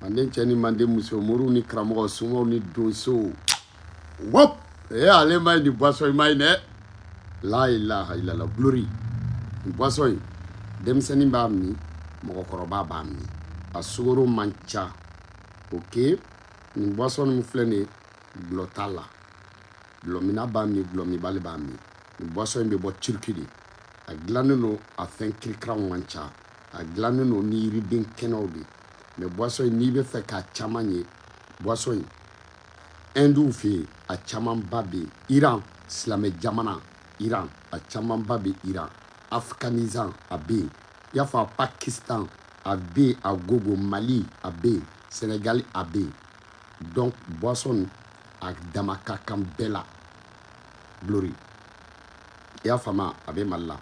manden cɛ ni manden muso moriw ni karamɔgɔ somaw ni donsow wop ee eh, ale ma ye nin boisson in ma ye dɛ la ilaha ilala glory nin boisson in denmisɛnnin b'a min mɔgɔkɔrɔba b'a min a sukaro man ca ok nin boisson min filɛ nin ye dɔlɔ t'a la dɔlɔminna b'a min dɔlɔminbali b'a min nin boisson in bɛ bɔ turki de a dilannen don a fɛn kirikaraw man ca a dilannen don ni yiriden kɛnɛw de mais boisson in n'i bɛ fɛ k'a caman ye boisson in ɛndiw fɛ yen a camanba bɛ yen iran silamɛ jamana iran a camanba bɛ iran afghanistan a bɛ yen i y'a fɔ a pakistan a bɛ yen a gogo mali a bɛ yen senegali a bɛ yen donc boisson a dama ka kan bɛɛ la Glory i y'a fama a bɛ Mali la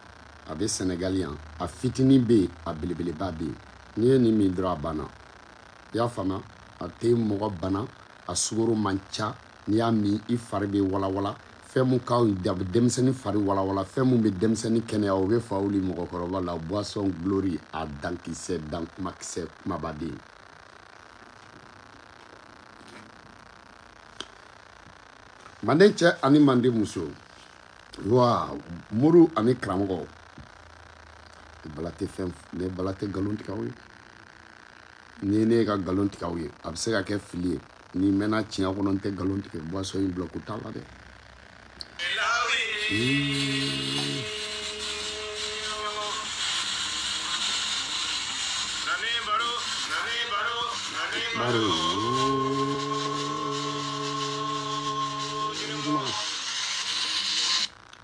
a bɛ Senegal yan a fitini bɛ yen a belebeleba bɛ yen n'i ye nin min dɔrɔn a banna i y'a fama a tɛ mɔgɔ bana a sukaro man ca n'i y'a min i fari bɛ walawala fɛn mun ka denmisɛnnin fari walawala fɛn mun bɛ denmisɛnnin kɛnɛya o bɛ fa wuli mɔgɔkɔrɔba la boisson glory a dankisɛ dan kumakisɛ kumabaden manden cɛ ani manden muso wa mori ani karamɔgɔ bala tɛ fɛn ne bala tɛ nkalon tigɛ aw ye ni ne ka nkalon tigɛ aw ye a bɛ se ka kɛ fili ye ni mɛnna tiɲɛ kɔnɔ n tɛ nkalon tigɛ boisson in dɔlɔko t'a la dɛ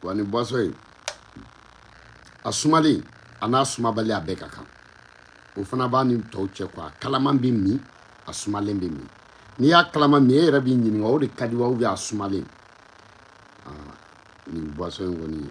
wa nin boisson in a sumalen a n'a sumabali a bɛɛ ka kan o fana b'a ni tɔw cɛ quoi a kalaman bɛ min a sumalen bɛ min n'i y'a kalama min e yɛrɛ b'i ɲininka o de ka di wa a sumalen nin boisson in kɔni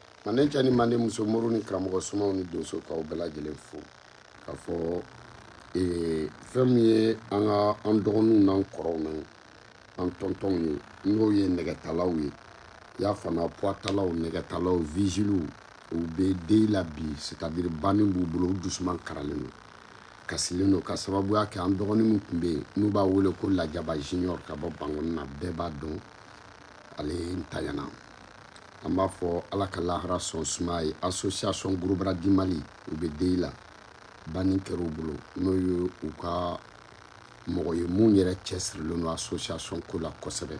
manden cɛ ni manden muso moriw ni karamɔgɔ somaw ni donso k'aw bɛɛ lajɛlen fo k'a fɔ ee, fɛn min ye an ka an dɔgɔninw n'an kɔrɔw n'an tɔntɔnw ye n'o ye nɛgɛtalaw ye y'a fana puwatalaw nɛgɛtalaw vigiliw u bɛ deuil la bi c'est-à-dire banni b'u bolo u dusuman karalen don kasilen don ka sababuya kɛ an dɔgɔnin min tun bɛ yen n'u b'a wele ko lajaba junior ka bɔ bankoni na bɛɛ b'a dɔn ale ntanyana an b'a fɔ ala ka lahara sɔn sumaya association gros bras du mali u bɛ deuil la banni kɛr'u bolo n'o ye u ka mɔgɔ ye mun yɛrɛ cɛsirilen don association ko la kosɛbɛ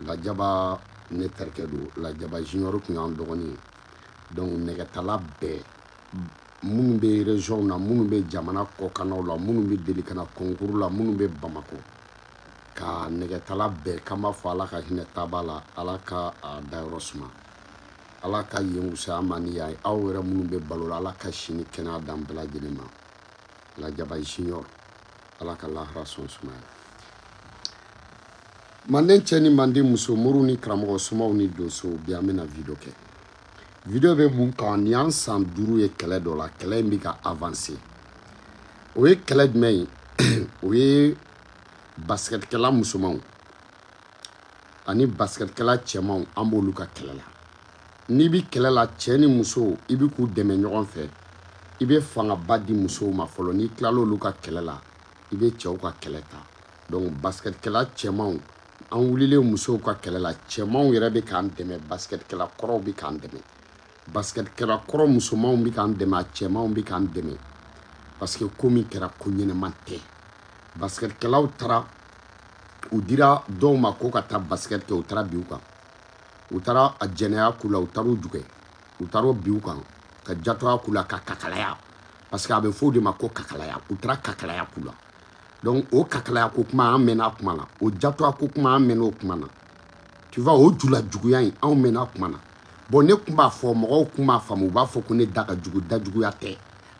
lajaba ne terikɛ don lajaba junior tun y'an dɔgɔnin ye donc nɛgɛtala bɛɛ minnu bɛ région na minnu bɛ jamana kɔkanna la minnu bɛ deli ka na concours la minnu bɛ bamakɔ ka nɛgɛtala bɛɛ k'an b'a fɔ ala ka hinɛ taaba la ala ka a dayɔrɔ suma ala ka yen wusaya a ma ni yan ye anw yɛrɛ minnu bɛ balo la ala ka si ni kɛnɛya d'an bɛɛ lajɛlen ma lajaba junior ala ka lahara sɔn sumaya manden cɛ ni manden muso moriw ni karamɔgɔw somaw ni donsow bi an bɛna video kɛ video bɛ mun kan nin y'an san duuru ye kɛlɛ dɔ la kɛlɛ in bɛ ka avancer o ye kɛlɛ jumɛn ye o ye basikɛtikɛla musomanw ani basikɛtikɛla cɛmanw an b'olu ka kɛlɛ la n'i bi kɛlɛ la cɛɛ ni musow i bi k'u dɛmɛ ɲɔgɔn fɛ i bɛ fangaba di musow ma fɔlɔ n'i tilala olu ka kɛlɛ la i bɛ cɛw ka kɛlɛ ta donc basikɛtikɛla cɛmanw an wulilen musow ka kɛlɛ la cɛmanw yɛrɛ bɛ k'an dɛmɛ basikɛtikɛla kɔrɔw bɛ k'an dɛmɛ basketkɛla kɔrɔ musomanw bɛ k'an dɛmɛ a cɛmanw bɛ k'an dɛmɛ parce que ko min kɛra ko ɲɛnama tɛ basketkɛlaw taara u dira dɔw ma ko ka taa basket kɛ u taara bin u kan u taara a jɛnɛya k'u la u taara u jukɛ u taara bin u kan ka jatɔya k'u la ka kakalaya parce que a bɛ fɔ o de ma ko kakalaya u taara kakalaya k'u la donc o kakalaya ko kuma an mɛnna a kuma na o jatɔya ko kuma an mɛnna o kuma na tu vois o julajuguya in anw mɛnna a kuma na bon ne tun b'a fɔ mɔgɔw tun m'a faamu u b'a fɔ ko ne da ka jugu dajuguya tɛ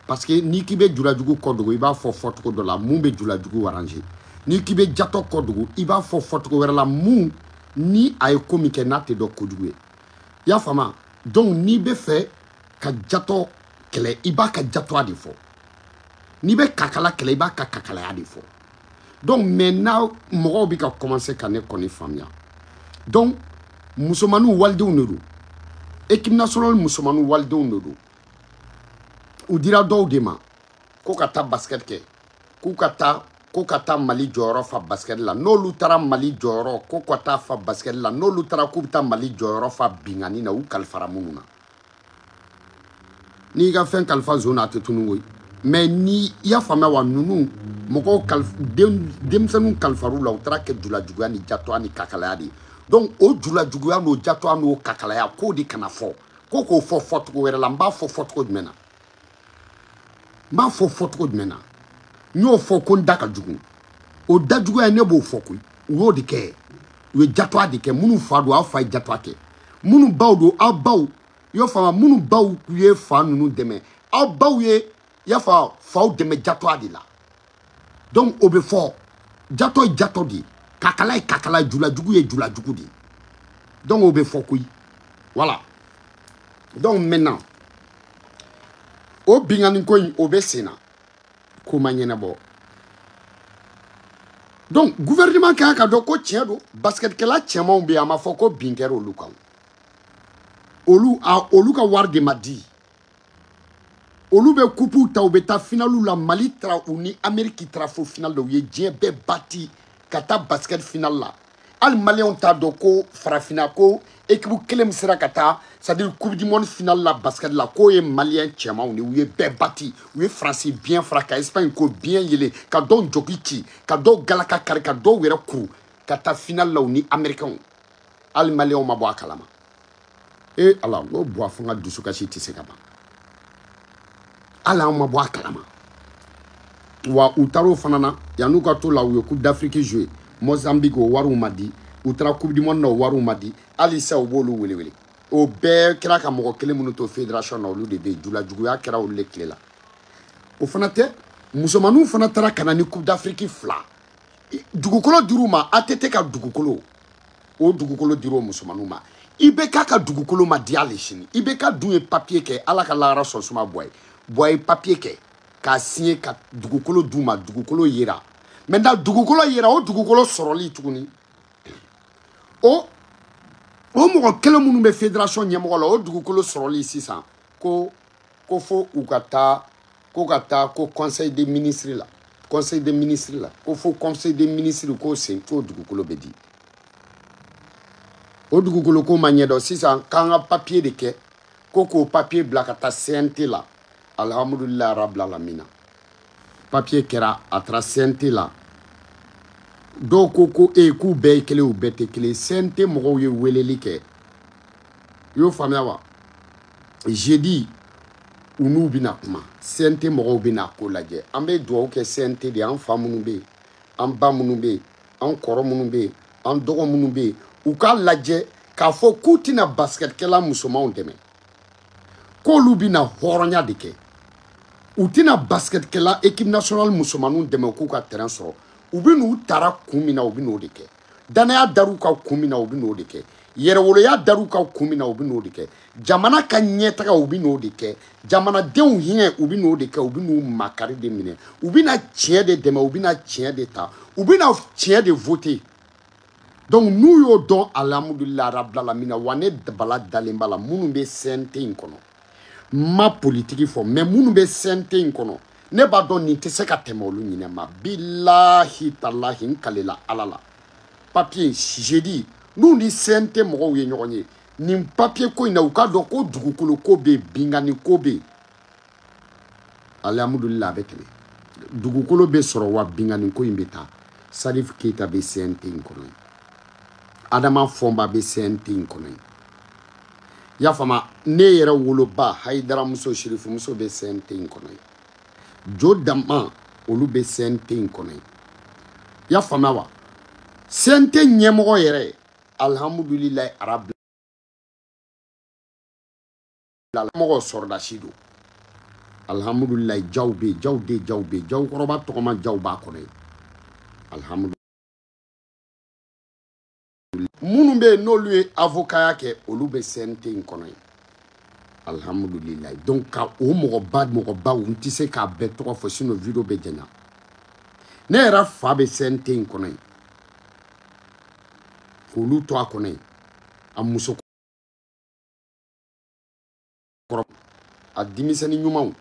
parce que n'i k'i bɛ julajugu kɔ dogo i b'a fɔ fɔcogo dɔ la mun bɛ julajugu arranger n'i k'i bɛ jatɔ kɔ dogo i b'a fɔ fɔcogo wɛrɛ la mun ni a ye ko min kɛ n'a tɛ dɔn kojugu ye i y'a faamu donc n'i bɛ fɛ ka jatɔ kɛlɛ i b'a ka jatɔya de fɔ n'i bɛ kakala kɛlɛ i b'a ka kakalaya de fɔ donc maintenant mɔgɔw bɛ ka kɔmanse ka ne kɔni faamuya donc musomaninw walidenw de don ekipe nasionali musomaninw walidenw de don u dira dɔw de ma ko ka taa basikɛti kɛ k'u ka taa ko ka taa mali jɔyɔrɔ fa basikɛti la n'olu taara mali jɔyɔrɔ ko ka taa fa basikɛti la n'olu taara k'u bɛ taa mali jɔyɔrɔ fa binkanni na u kalifara minnu na n'i ka fɛn kalifa zon na a tɛ tunu koyi mais ni i y'a faamuya wa ninnu mɔgɔw denmisɛnninw kalifar'u la u taara a kɛ julajuguya ni jatɔya ni kakalaya de ye donc o julajuguya n'o jatɔya n'o kakalaya k'o de kana fɔ ko k'o fɔ fɔcogo wɛrɛ la n b'a fɔ fɔcogo jumɛn na n b'a fɔ fɔcogo jumɛn na n y'o fɔ ko n da ka jugu o da juguya ne b'o fɔ koyi u y'o de kɛ u ye jatoya de kɛ minnu fa don aw fa ye jatoya kɛ minnu baw don aw baw i y'o faamu minnu baw ye fa ninnu dɛmɛ aw baw ye i y'a fɔ faw dɛmɛ jatoya de la donc o bɛ fɔ jatɔ ye jatɔ de ye kakala ye kakala julajugu ye julajugu de ye donc o bɛ fɔ koyi voilà donc maintenant o binkanni ko in o bɛ sen na ko ma ɲɛnabɔ donc gouvernement kan k'a dɔn ko tiɲɛ don basketkɛla cɛmanw bɛ yen a ma fɔ ko bin kɛra olu kan olu a olu ka wari de ma di olu bɛ kupuw ta u bɛ taa finaliw la mali tara u ni ameriki tara fo final la u ye diɲɛ bɛɛ bati ka taa basikɛti final la hali maliyɛnw t'a dɔn ko farafina ko ekipu kelen min sera ka taa c'est-à-dire coupe du monde final la basikɛti la k'o ye maliyɛn cɛmanw de u ye bɛɛ bati u ye faransi biɲɛ fara ka espagne ko biɲɛ yelen ka dɔw jɔki ci ka dɔw galaka kari ka dɔw yɛrɛ kuru ka taa final la u ni amerikɛnw hali maliyɛnw ma bɔ a kalama ee ala n ko buwa fo n ka dusukasi tɛ se ka ban hali an ma bɔ a kalama wa u taar'o fana na yan'u ka t'o la u ye coupe d'afrique joué mozambique o wariw ma di u taara coupe du monde na o wariw ma di hali sa u b'olu welewele o bɛɛ kɛra ka mɔgɔ kelen minnu to fédération na olu de bɛ yen julajuguya kɛra olu de tile la o fana tɛ musomanninw fana taara ka na ni coupe d'afrique fila dugukolo dir'u ma ATT ka dugukolo o dugukolo dir'o musomanninw ma IBK ka dugukolo ma di hali sini IBK dun ye papiye kɛ Ala ka lahara sɔn suma Buwa ye Buwa ye papiye kɛ k'a siɲe ka dugukolo d'u ma dugukolo yera maintenant dugukolo yera o dugukolo sɔrɔli tuguni o o mɔgɔ kelen minnu bɛ fédération ɲɛmɔgɔ la o dugukolo sɔrɔli sisan ko ko fo u ka taa ko ka taa ko conseil des ministres la conseil des ministres la ko fo conseil des ministres k'o siɲe k'o dugukolo bɛ di o dugukolo ko ma ɲɛdɔn sisan k'an ka papiye de kɛ ko k'o papiye bila ka taa cnt la alhamdulilayi rabilalamina papiye kɛra a taara cnt la dɔw ko ko e k'u bɛɛ ye kelen u bɛɛ tɛ kelen cnt mɔgɔw ye weleli kɛ i y'o faamuya wa jeudi u n'u bɛna kuma CNT mɔgɔw bɛna ko lajɛ an bɛ dugawu kɛ CNT de an fa minnu bɛ yen an ba minnu bɛ yen an kɔrɔ minnu bɛ yen an dɔgɔ minnu bɛ yen u k'a lajɛ k'a fɔ k'u tɛna basikɛtikɛla musomanw dɛmɛ k'olu bɛna hɔrɔnya de kɛ u tɛna basikɛtikɛla ekipe nasionali musomanninw dɛmɛ k'u ka terɛn sɔrɔ u bɛ n'u tara kun min na u bɛn'o de kɛ danaya dar'u ka kun min na u bɛ n'o de kɛ yɛrɛwoloya dar'u ka kun min na u bɛ n'o de kɛ jamana ka ɲɛtaga u bɛ n'o de kɛ jamanadenw hinɛ u bɛ n'o de kɛ u bɛ n'u makari de minɛ u bɛna tiɲɛ de dɛmɛ u bɛna tiɲɛ de ta u bɛna tiɲɛ de vote donc n'u y'o dɔn alihamudulila rabilalamina wa ne b'a la dalen b'a la minnu bɛ cnt in kɔnɔ ma politiki fɔ mɛ minnu bɛ cnt in kɔnɔ ne b'a dɔn nin tɛ se ka tɛmɛ olu ɲinɛ ma bilahi talahi n kalela ala la papiye sisedi n'u ni cnt mɔgɔw ye ɲɔgɔn ye nin papiye ko in na u k'a dɔn ko dugukolo ko bɛ yen binkanni ko bɛ yen alihamudulila a bɛ tɛmɛ dugukolo bɛ sɔrɔ wa binkanni ko in bɛ taa salifu keyita bɛ cnt in kɔnɔ adama fɔnba bɛ cnt in kɔnɔ i y'a faamu ne yɛrɛ woloba hayidaramuso sirifumuso bɛ cnt in kɔnɔ yen jo dama olu bɛ cnt in kɔnɔ yen i y'a faamuya wa cnt ɲɛmɔgɔ yɛrɛ alihamudulilayi armée mɔgɔ sɔrɔdasi don alihamudulilayi jaw bɛ yen jaw den jaw bɛ yen jaw kɔrɔba tɔgɔma jaw b'a kɔnɔ yen alihamudulilayi minnu bɛ yen n'olu ye avokaya kɛ olu bɛ CNT in kɔnɔ yen alihamudulilayi donc ka o mɔgɔba mɔgɔbaw n tɛ se k'a bɛɛ tɔgɔ fɔ sinon video bɛ janya ne yɛrɛ fa bɛ CNT in kɔnɔ yen k'olu to a kɔnɔ yen a muso kɔrɔ a denmisɛnni ɲumanw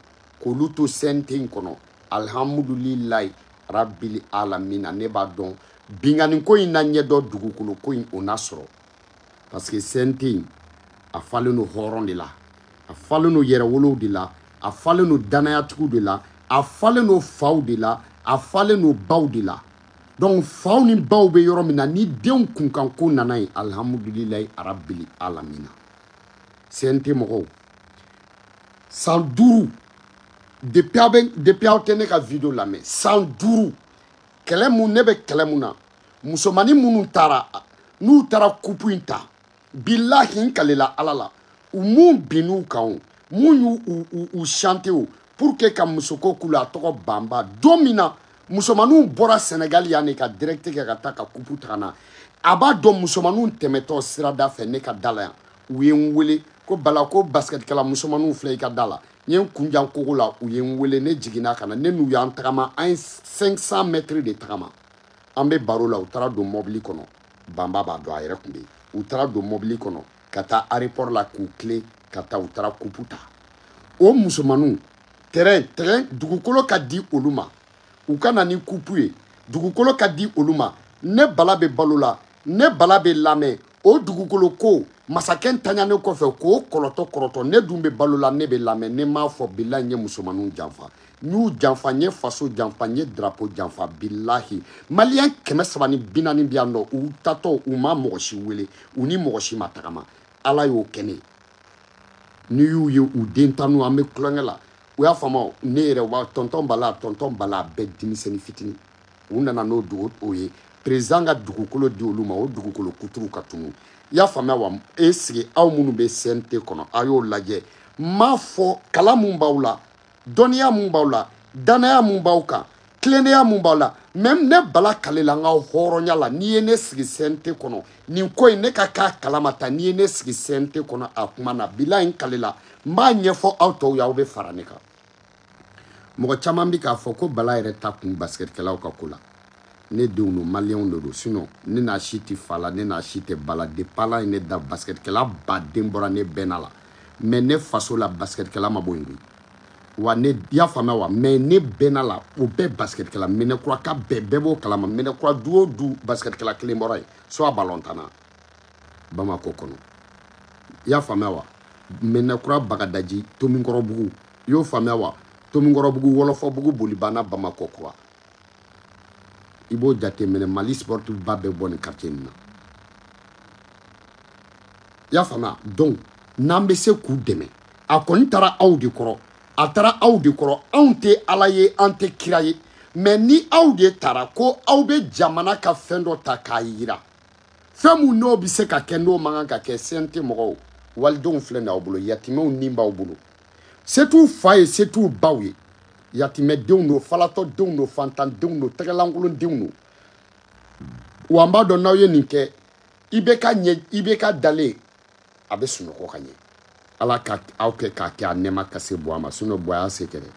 k'olu to cnt in kɔnɔ alihamudulilayi rabili alamina ne b'a dɔn binkanniko in na ɲɛdɔn dugukolo ko in o na sɔrɔ parce que cnt in a falen don hɔrɔn de la a falen don yɛrɛwolow de la a falen don danayatigiw de la a falen don faw de la a falen don baw de la donc faw ni baw bɛ yɔrɔ min na ni denw kunkanko nana yen alihamudulilayi arabili alamina cnt mɔgɔw san duuru depuis aw bɛ depuis aw tɛ ne ka video lamɛn san duuru kɛlɛ mun ne bɛ kɛlɛ mun na musomanin minnu taara n'u taara kupu in ta bilahi n kalela ala la u mun binn'u kan o mun y'u u u chante o pour que ka musoko k'u la a tɔgɔ banba don min na musomaninw bɔra sɛnɛgali yan ne ka direct kɛ ka taa ka kupu ta ka na a b'a dɔn musomaninw tɛmɛtɔ sirada fɛ ne ka da la yan u ye n wele ko bala ko basikɛtikɛla musomanninw filɛ i ka da la n ye n kun jan kogo la u ye n wele ne jiginna ka na ne n'u y'an tagama an ye 500 mɛtiri de tagama an bɛ baro la u taara don mɔbili kɔnɔ banba b'a dɔn a yɛrɛ tun bɛ yen u taara don mɔbili kɔnɔ ka taa arepɔri la k'u tilen ka taa u taara kupu ta o musomanninw tɛrɛn tɛrɛn dugukolo ka di olu ma u ka na ni kupu ye dugukolo ka di olu ma ne bala bɛ balo la ne bala bɛ lamɛn o dugukolo ko masakɛ taganen kɔfɛ k'o kɔrɔtɔ kɔrɔtɔ ne dun bɛ balo la ne bɛ lamɛn ne m'a fɔ bilahi n ye musomanninw janfa n y'u janfa n ye faso janfa n ye drapo janfa bilahi maliyɛn kɛmɛ saba ni bi naani bɛ yan nɔ u taatɔ u ma mɔgɔ si wele u ni mɔgɔ si ma tagama ala y'o kɛ ne ye n'i y'u ye u den tan n'u an bɛ tulonkɛ la u y'a faamu ne yɛrɛ wa tɔntɔn bala tɔntɔn bala bɛɛ denmisɛnnin fitini u nana n'o dugu o ye perezidan ka dugukolo di olu ma o dugukolo kuturu ka tunun i y'a faamuya wa e sigi aw minnu bɛ cnt kɔnɔ a y'o lajɛ n m'a fɔ kalan mun b'aw la dɔnniya mun b'aw la dannaya mun b'aw kan tilennenya mun b'aw la mɛ ne bala kalela n ka hɔrɔnya la n'i ye ne sigi cnt kɔnɔ nin ko in ne ka k'a kalama ta n'i ye ne sigi cnt kɔnɔ a kuma na bilahi n kalela n b'a ɲɛfɔ aw tɔw ye aw bɛ fara ne kan mɔgɔ caman bɛ k'a fɔ ko bala yɛrɛ ta kun basikɛtikɛlaw ka ko la ne denw don maliyɛnw de don sinɔn ne n'a si tɛ fa la ne n'a si tɛ ba la depi ala ye ne da basikɛtikɛlaba de bɔra ne bɛnna la mɛ ne faso la basikɛtikɛla ma bɔ yen koyi wa ne y'a faamuya wa mɛ ne bɛnna la o bɛɛ basikɛtikɛla minɛkurakaw bɛɛ bɛɛ b'o kalama minɛkura du o du basikɛtikɛla kelen bɔra yen soit balɔntanna bamakɔ kɔnɔ i y'a faamuya wa minɛkura bagadaji tomikɔrɔbugu i y'o faamuya wa tomikɔrɔbugu wɔlɔfɔbugu bolibana bamakɔ kura i b'o jateminɛ mali sportif ba bɛ bɔ nin quartier nin na i y'a faamuya donc n'an bɛ se k'u dɛmɛ a kɔni taara aw de kɔrɔ a taara aw de kɔrɔ anw tɛ ala ye an tɛ kira ye mɛ ni aw de taara ko aw bɛ jamana ka fɛn dɔ ta k'a yira fɛn min n'o bɛ se ka kɛ n'o man kan ka kɛ cnt mɔgɔw walidenw filɛ nin aw bolo yatimɛw ni b'aw bolo se t'u fa ye se t'u baw ye yatimɛdenw don falatɔdenw don fantandenw don tɛgɛlankolondenw don wa n b'a dɔn n'aw ye nin kɛ ibk ɲɛ ibk dalen a bɛ sunɔgɔ ka ɲɛ ala ka aw kɛ k'a kɛ a nɛɛma ka se bua ma sinɔn bua y'a se kɛ dɛ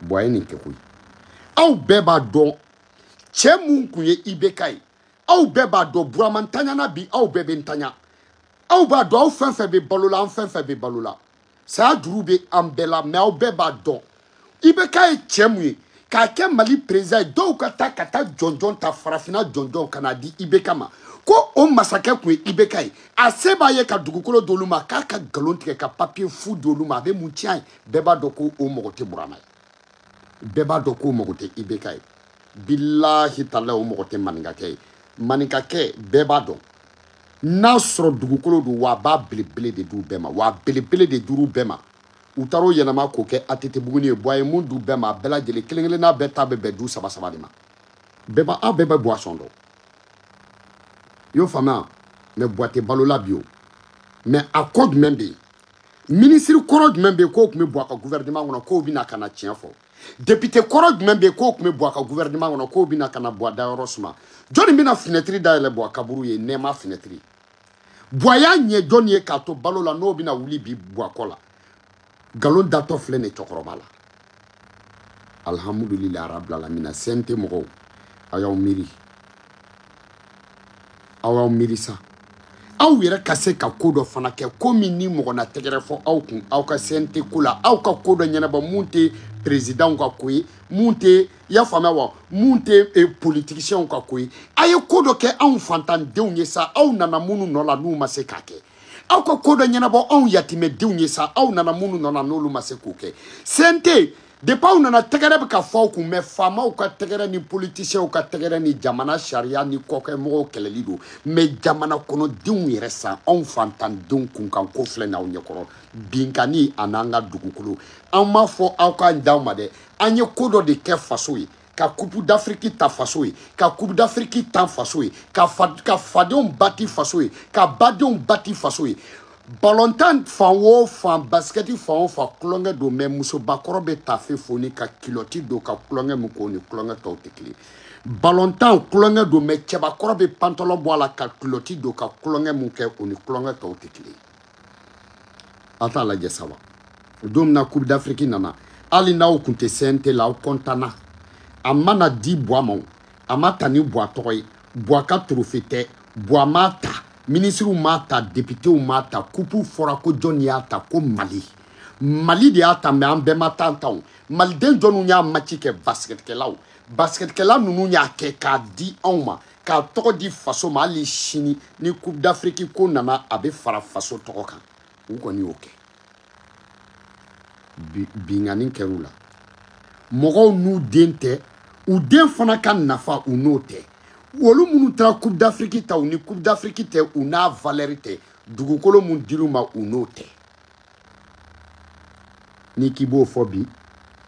bua ye nin kɛ koyi aw bɛɛ b'a dɔn cɛ mun kun ye ibk ye aw bɛɛ b'a dɔn burama ntanyana bi aw bɛɛ bɛ ntanya aw b'a dɔn aw fɛn fɛn bɛ balo la an fɛn fɛn bɛ balo la saya juru bɛ an bɛɛ la mɛ aw bɛɛ b'a dɔn ibk ye cɛ mun ye k'a kɛ mali perezidan ye dɔw ka taa ka taa jɔnjɔn ta farafinna jɔnjɔn ka na di ibk ma ko o masakɛ tun ye ibk ye a se b'a ye ka dugukolo d'olu ma k'a ka nkalon tigɛ ka papiye fu d'olu ma a bɛ mun tiɲɛ ye bɛɛ b'a dɔn ko o mɔgɔ tɛ burama ye bɛɛ b'a dɔn k'o mɔgɔ tɛ ibk ye bilahi tala o mɔgɔ tɛ maninkakɛ ye maninkakɛ bɛɛ b'a dɔn n'a sɔrɔ dugukolo don wa a b'a belebele de d'u bɛɛ ma wa a belebele de dir'u bɛɛ ma u taara o yɛlɛma k'o kɛ atetebuguni ye buwa ye mun d'u bɛɛ ma a bɛɛ lajɛlen kelen kelenna bɛɛ ta bɛ bɛn du saba saba de ma bɛɛ b'a aw bɛɛ bɛ buwa sɔn dɔn y'o faamuya mɛ buwa tɛ balo la bi o mɛ a ko jumɛn bɛ yen minisiri kɔrɔ jumɛn bɛ yen k'o tun bɛ buwa ka gouvernement kɔnɔ k'o bɛna ka na tiɲɛ fɔ député kɔrɔ jumɛn bɛ yen k'o tun bɛ buwa ka gouvernement kɔnɔ k'o bɛna ka na buwa dayɔrɔ suma jɔnni bɛna finɛtiri dayɛlɛ buwa kaburu ye nɛɛma finɛtiri buwa y'a ɲɛ jɔnni ye k'a to balo la n'o bɛna wuli bi buwa kɔ la nkalon datɔ filɛ nin cɛkɔrɔba la alhamdulila arabilalamina sɛnte mɔgɔw aw y'aw miiri aw y'aw miiri sa aw yɛrɛ ka se ka ko dɔ fana kɛ ko min ni mɔgɔ na tɛgɛrɛ fɔ aw kun aw ka sɛnte ko la aw ka ko dɔ ɲɛnabɔ mun tɛ perezidanw ka ko ye mun tɛ y'a faamuya wa mun tɛ eh, politigisiyɛnw ka ko ye a ye ko dɔ kɛ anw fantandenw ye sa aw nana minnu nɔ la n'u ma se k'a kɛ aw ka ko dɔ ɲɛnabɔ anw yatimɛdenw ye sa aw nana minnu nɔ na n'olu ma se k'o kɛ sente depi aw nana tɛgɛrɛ bɛ ka fɔ aw kun mɛ faamaw ka tɛgɛrɛ ni politisiyɛnw ka tɛgɛrɛ ni jamana sariya ni kɔkɛmɔgɔw kɛlɛli don mɛ jamana kɔnɔdenw yɛrɛ san anw fantandenw kunkan ko filɛ n'aw ɲɛkɔrɔ binkanni an'an ka dugukolo an m'a fɔ aw k'a d'anw ma dɛ an ye ko dɔ de kɛ faso ye ka kupu d'afiriki ta faso ye ka kupu d'afiriki ta faso ye ka fa ka fadenw bati faso ye ka badenw bati faso ye balontan fan o fan basikɛti fan o fan tulonkɛ don mɛ musobakɔrɔ bɛ tafe foni ka kilɔti don ka tulonkɛ min k'o ni tulonkɛ tɔw tɛ kelen balontan tulonkɛ don mɛ cɛbakɔrɔ bɛ pantɔlɔ bɔ a la ka kilɔti don ka tulonkɛ min kɛ o ni tulonkɛ tɔw tɛ kelen a t'a lajɛ sa wa don min na coupe d'afrique nana hali n'aw kun tɛ cnt la aw kɔntana a ma na di buwa ma a ma ta ni buwa tɔgɔ ye buwa ka torofe tɛ buwa m'a ta minisiriw m'a ta depitew m'a ta kupu fɔra ko jɔn y'a ta ko mali mali de y'a ta mɛ an bɛɛ ma taa a ta o maliden jɔnw y'a maci kɛ basikɛtikɛlaw basikɛtikɛla ninnu y'a kɛ k'a di anw ma ka tɔgɔ di faso ma hali sini ni coupe d'afrique ko nana a bɛ fara faso tɔgɔ kan u kɔni y'o kɛ binkanni kɛr'u la mɔgɔw n'u den tɛ u den fana ka nafa u n'o tɛ olu minnu taara coupe d'afrique ta u ni coupe d'afrique tɛ u n'a valeur tɛ dugukolo mun dir'u ma u n'o tɛ n'i k'i b'o fɔ bi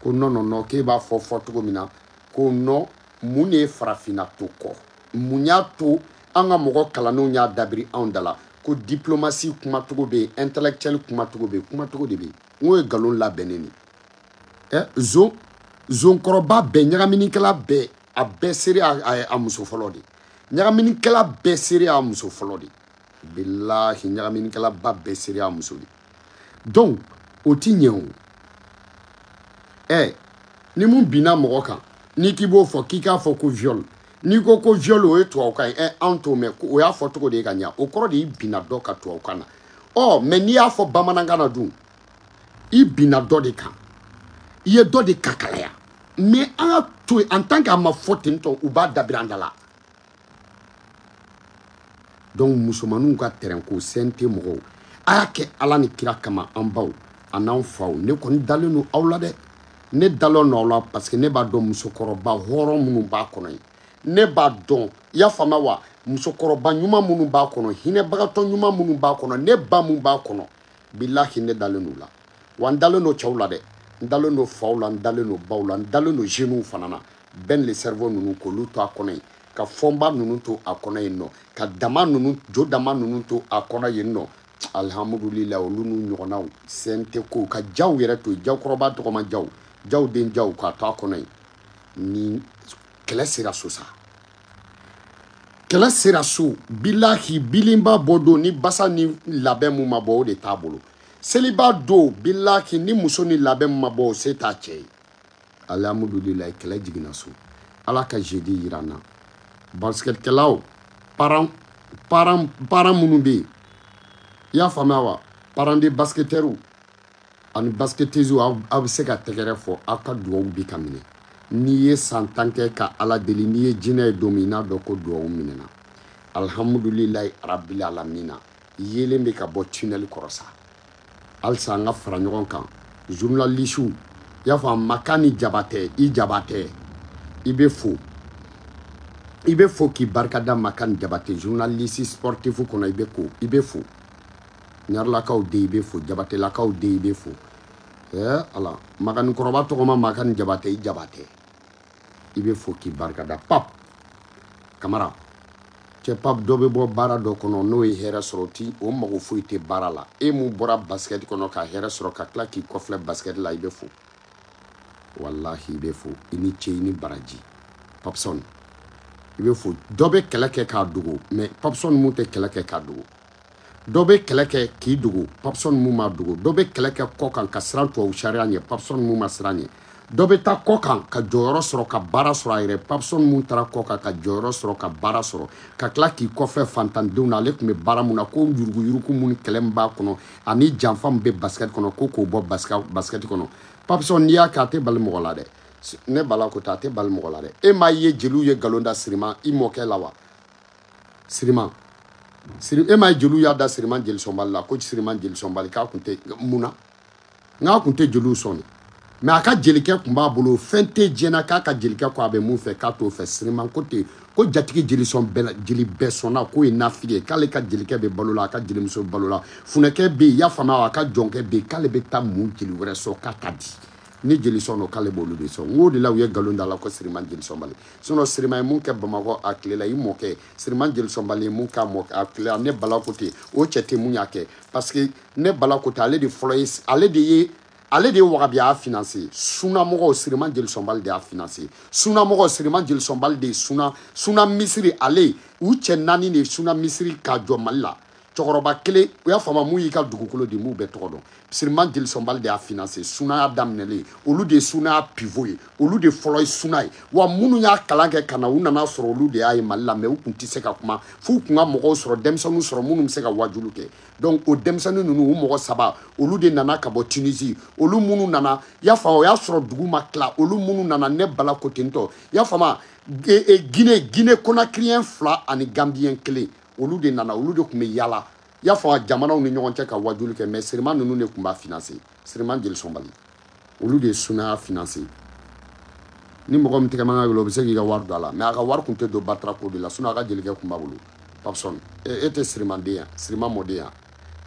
ko non non non k'e b'a fɔ fɔcogo min na ko non mun de ye farafinna to kɔ mun y'a to an ka mɔgɔ kalannenw y'a dabiri anw da la ko diplomasi kumacogo bɛ yen intellectuel kumacogo bɛ yen kumacogo de bɛ yen n k'o ye nkalon labɛnnen de ye ɛ zon zonkɔrɔba bɛɛ ɲagaminikɛla bɛɛ a bɛɛ seere a muso fɔlɔ de ɲagaminikɛla bɛɛ seere a muso fɔlɔ de bilahi ɲagaminikɛlaba bɛɛ seere y'a muso de donc o ti ɲɛ o ɛ ni mun binna mɔgɔ kan n'i k'i b'o fɔ k'i k'a fɔ ko viol n'i ko ko viol o ye tubabukan ye ɛ anw t'o mɛn o y'a fɔcogo de ye ka ɲa o kɔrɔ de y'i binna dɔ kan tubabukan na ɔ mais n'i y'a fɔ bamanankan na dun i binna dɔ de kan i ye dɔ de kakalaya mais an k'a to yen en tant que a ma fɔ ten tɔ u b'a dabiri an da la donc musomaninw ka tɛrɛnko CNT mɔgɔw a y'a kɛ ala ni kira kama an baw an'an faw ne kɔni dalen don aw la dɛ ne dalen don aw la parce que ne b'a dɔn musokɔrɔba hɔrɔn minnu b'a kɔnɔ yen ne b'a dɔn i y'a faamuya wa musokɔrɔba ɲuman minnu b'a kɔnɔ hinɛbagatɔ ɲuman minnu b'a kɔnɔ ne ba mun b'a kɔnɔ bilahi ne dalen don u la wa n dalen don cɛw la dɛ n dalen don faw la n dalen don baw la n dalen don jeunes fana na ben le cerveau ninnu k'olu to a kɔnɔ yen ka fɔnba ninnu to a kɔnɔ yen non ka dama ninnu jo dama ninnu to a kɔnɔ yen non alihamudulila olu n'u ɲɔgɔnnaw CNT ko ka jaw yɛrɛ to yen jawkɔrɔba tɔgɔma jaw jaw den jaw k'a to a kɔnɔ yen ni kɛlɛ sera so sa kɛlɛ sera so bilahi bilenba bɔ don ni basa ni labɛn mun ma bɔ o de t'a bolo seliba don bilahi ni muso ni labɛn mun ma bɔ o se t'a cɛ ye alihamudulilayi kɛlɛ jiginna so ala ka jeudi yir'an na basikɛtikɛlaw parents parents parents minnu bɛ yen i y'a faamuya wa parents de basikɛtɛriw ani basikɛtɛziw aw bɛ se ka tɛgɛrɛ fɔ aw ka dugawu bi ka minɛ n'i ye san tan kɛ ka ala deli n'i ye jinɛ ye don min n'a dɔn ko dugawu minɛna alihamudulilayi rabil alamina yeelen bɛ ka bɔ tunnel kɔrɔ sa halisa an ka fara ɲɔgɔn kan journalisiw i y'a fɔ makani jabatɛ i jabatɛ i bɛ fo i bɛ fo k'i barika da makani jabatɛ journalisi sportifu kɔnɔ i bɛ ko i bɛ fo ɲarelakaw den i bɛ fo jabatɛlakaw den i bɛ fo ɛɛ ala makanikɔrɔba tɔgɔma makani jabatɛ i jabatɛ i bɛ fo k'i barikada pap kamara cɛ pap dɔ bɛ bɔ baara dɔ kɔnɔ n'o ye hɛrɛ sɔrɔ ti o mago foyi tɛ baara la e mun bɔra basikɛti kɔnɔ ka hɛrɛ sɔrɔ ka tila k'i kɔfilɛ basikɛti la i bɛ fo walahi i bɛ fo i ni ce i ni baraji papsɔn i bɛ fo dɔ bɛ kɛlɛ kɛ k'a dogo mɛ papsɔn mun tɛ kɛlɛ kɛ k'a dogo dɔ bɛ kɛlɛ kɛ k'i dogo papsɔn mun ma dogo dɔ bɛ kɛlɛ kɛ kɔkan ka siran tubabu sariya ɲɛ papsɔn mun ma siran ɲɛ dɔ bɛ taa kɔkan ka jɔyɔrɔ sɔrɔ ka baara sɔrɔ a yɛrɛ papsɔn mun taara kɔkan ka jɔyɔrɔ sɔrɔ ka baara sɔrɔ ka tila k'i kɔfilɛ fantandenw na ale tun bɛ baara mun na ko yuruguyurugu mun kɛlɛ min b'a kɔnɔ ani janfa min bɛ basikɛti kɔnɔ ko k'o bɔ basikɛti kɔnɔ papsɔn n'i y'a kɛ a tɛ bali mɔgɔ la dɛ ne bala ko ten a tɛ bali mɔgɔ la dɛ e m'a ye jeliw ye nkalon da siriman i mɔkɛ la wa siriman siri e m'a ye jeliw y'a da siriman jelisɔnbali la ko siriman jelisɔnbali k'a kun tɛ mun na n k'a kun tɛ jeliw sɔn de mɛ a ka jelikɛ kun b'a bolo fɛn tɛ diɲɛ na k'a ka jelikɛ ko a bɛ mun fɛ k'a t'o fɛ siriman ko ten ko jatigi jelisɔn bɛɛ jeli bɛɛ sɔnna k'o ye nafigi ye k'ale ka jelikɛ bɛ balo la a ka jelimuso balo la funɛkɛ bɛ yen y'a faamuya a ka jɔnkɛ bɛ yen k'ale bɛ taa mun jeli wɛrɛ sɔrɔ k'a ta di ni jelisɔn don k'ale b'olu de sɔn o de la u ye nkalon da a la ko siriman jelisɔnbali sinɔn siriman ye mun kɛ bamakɔ a tile la i mɔkɛ siriman jelisɔnbali ye mun k'a mɔ a tile la ne bala ko ten o cɛ tɛ mun y'a kɛ parce que ne bala ko ten ale de fɔlɔ ye ale de ye ale de ye wahabiya finanse sunamɔgɔw siriman jelisɔnbali de y'a finanse sunamɔgɔw siriman jelisɔnbali de ye suna suna misiri ale u cɛ naani de ye suna misiri k'a jɔ mali la cɛkɔrɔba kelen i y'a faamu mun y'i ka dugukolo di n m'u bɛɛ tɔgɔ dɔn siriman jelisɔnbali de y'a finanse sunaya daminɛlen olu de ye sunaya pivo ye olu de fɔlɔ ye suna ye wa minnu y'a kalan kɛ ka na u nana sɔrɔ olu de y'a ye mali la mɛ u tun tɛ se ka kuma f'u tun ka mɔgɔw sɔrɔ denmisɛnninw sɔrɔ minnu bɛ se ka wajulu kɛ donc o denmisɛnnin ninnu u mɔgɔ saba olu de nana ka bɔ tunisi olu minnu nana y'a faamu o y'a sɔrɔ dugu ma tila olu minnu nana ne bala ko ten y'a faamu e, e, gine gine konakiriyɛn fila ani ganbiyɛn kelen olu de nana olu de tun bɛ yaala i y'a faamu jamanaw ni ɲɔgɔn cɛ ka wajuli kɛ mɛ siriman ninnu de tun b'a finanse siriman jelisɔnbali olu de ye sunaya finanse ni mɔgɔ min tɛgɛ man gɛlɛn o bɛ se k'i ka wari don a la mɛ a ka wari tun tɛ don batara ko de la sinɔn a ka jelikɛ tun b'a bolo papsɔn e, e tɛ sirimanden yan siriman mɔden yan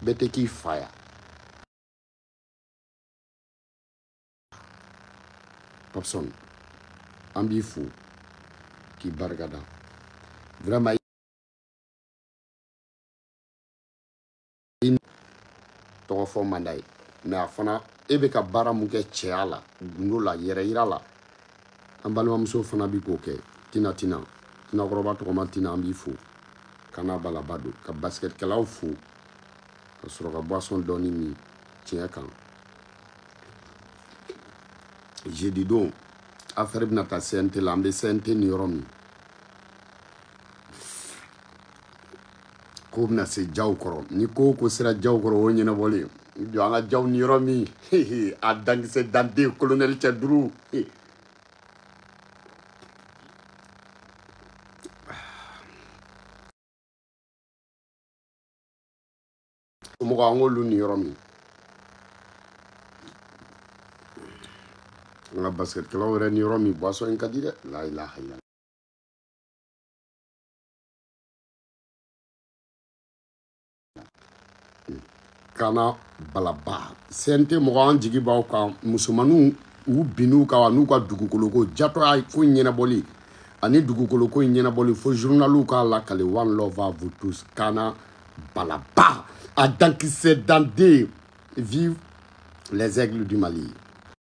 bɛɛ tɛ k'i fa yan papsɔn an b'i fo k'i barikada vraiment tɔgɔ fɔ man d'a ye mɛ a fana e bɛ ka baara mun kɛ cɛya la gundo la yɛrɛ yira la an balimamusow fana bɛ k'o kɛ tina tina tinakɔrɔba tɔgɔma tina an b'i fo kana balaba don ka basikɛtikɛlaw fo ka sɔrɔ ka boisson dɔɔni min tiɲɛ kan jedidon afɛri bɛna taa cnt la an bɛ cnt ni yɔrɔ min k'o bɛna se jaw kɔrɔ ni ko ko sera jaw kɔrɔ o ɲɛnabɔlen jɔ an ka jaw ni yɔrɔ min a dankisɛ danden kolonɛli cɛ duuru mɔgɔ an k'olu ni yɔrɔ min an ka basikɛtikɛlaw yɛrɛ ni yɔrɔ min buwasɔn in ka di dɛ layilahayi kana balaba cnt mɔgɔ an jigi b'aw kan musomaninw u bin'u kan wa n'u ka dugukoloko jatɔya ko ɲɛnabɔli ani dugukoloko in ɲɛnabɔli fo journaliw k'a lakali one love à vous tous kana balaba a dankisɛ dande vive les aigles du mali